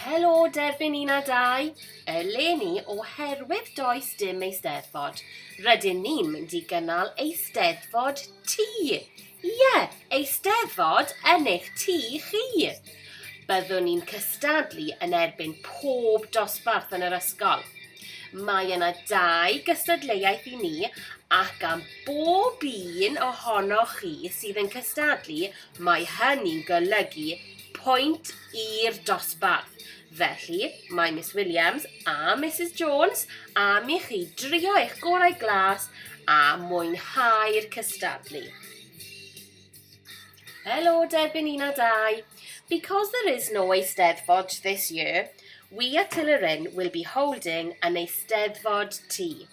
Helo Derfyn un a dau, eleni oherwydd does dim Eisteddfod, rydyn ni'n mynd i gynnal Eisteddfod ti! Ie, eisteddfod yn eich tŷ chi. Byddwn ni'n cystadlu yn erbyn pob dosbarth yn yr ysgol. Mae yna dau gystadleuaeth i ni ac am bob un ohonoch chi sydd yn cystadlu, mae hynny'n golygu pwynt i'r dosbarth. Felly, mae Miss Williams a Mrs Jones am i chi drio eich gorau glas a mwynhau'r cystadlu. Hello, Derbyn un a dau. Because there is no Eisteddfod this year, we at Tilleryn will be holding an Eisteddfod Tea.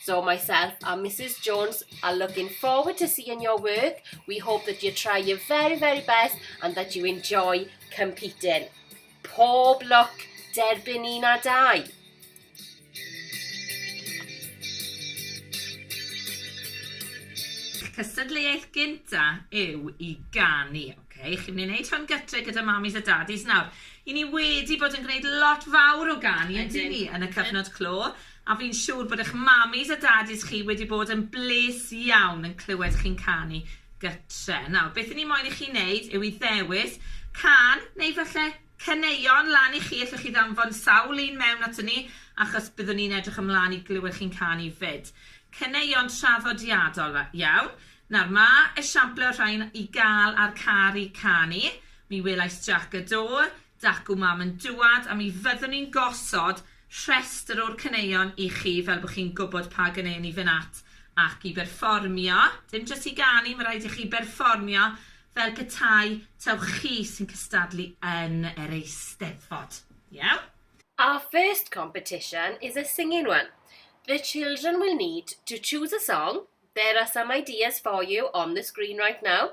So myself and Mrs Jones are looking forward to seeing your work. We hope that you try your very, very best and that you enjoy competing. Pob lwc, derbyn un a dau. Cystadleuaeth gynta yw i ganu, oce? Okay? Chi'n mynd i wneud hwn gytre gyda mamis a dadis nawr. I ni wedi bod yn gwneud lot fawr o ganu, yn ni, yn y cyfnod clo. A fi'n siŵr bod eich mamis a dadis chi wedi bod yn bles iawn yn clywed chi'n canu gytre. Nawr, beth i ni moyn i chi wneud yw i ddewis can neu falle caneuon lan i chi, allwch chi ddanfon sawl un mewn ato ni achos byddwn ni'n edrych ymlaen i glywed chi'n canu 'fyd. Caneuon traddodiadol iawn. Nawr, mae esiamplau o'r rhain i gael ar Caru Canu, Mi Welais Jac y Do, Dacw Mam yn dŵad a mi fyddwn ni'n gosod rhestr o'r caneuon i chi fel bod chi'n gwybod pa ganeuon i fynd at ac i berfformio. Dim jyst i ganu, mae rhaid i chi berfformio fel petai taw chi sy'n cystadlu yn yr Eisteddfod. Iawn? Our first competition is a singing one. The children will need to choose a song, there are some ideas for you on the screen right now,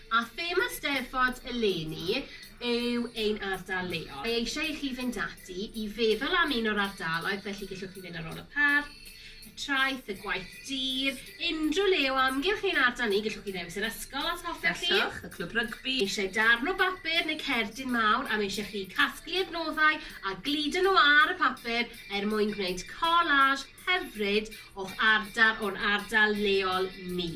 A thema 'Steddfod eleni' yw ein ardal leol. Mae eisiau i chi fynd ati i feddwl am un o'r ardaloedd, felly gellwch chi fynd ar ôl y parc, y traeth, y gwaith dur, unrhyw le o amgylch ein ardal ni, gellwch chi ddewis yr ysgol os hoffech chi. Gallwch, y clwb rygbi. Eisiau darn o bapur neu cerdyn mawr am eisiau chi casglu adnoddau a gludo nhw ar y papur er mwyn gwneud collage hyfryd o'ch ardal o'n ardal leol ni.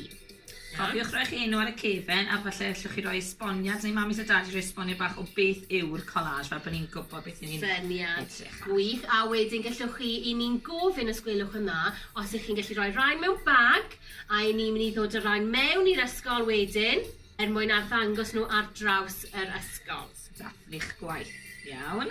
Iawn. Cofiwch roi'ch enw ar y cefen a falle allwch chi roi esboniad neu mamis a dadis roi esboniad bach o beth yw'r collage fel bo' ni'n gwbod beth 'yn ni'n... Syniad. ...edrych ar. Gwych a wedyn gellwch chi i ni'n gofyn os gwelwch yn dda os 'ych chi'n gallu roi rain mewn bag a 'yn ni myn' i ddod â rain mewn i'r ysgol wedyn er mwyn arddangos nw ar draws yr ysgol. Dathlu'ch gwaith. Iawn.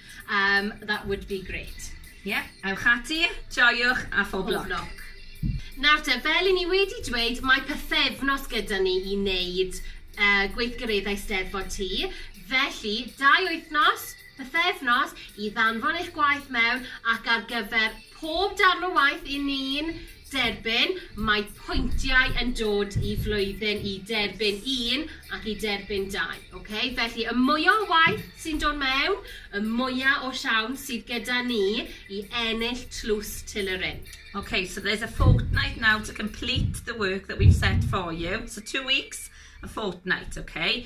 Umm that would be great. Ie, ewch ati, joiwch a phob lwc. Pob lwc. Nawr te, fel i ni wedi dweud, mae pythefnos gyda ni i wneud yy gweithgareddau Steddfod Ty, felly dau wythnos, pythefnos, i ddanfon eich gwaith mewn ac ar gyfer Pob darn o waith 'yn ni'n derbyn, mae pwyntiau yn dod i flwyddyn i derbyn un ac i derbyn dau, ok? Felly, y mwya o waith sy'n dod mewn, y mwya o siawns sydd gyda ni i ennill tlws Til y Rhin. Okay, so there's a fortnight now to complete the work that we've set for you. So two weeks, a fortnight, okay?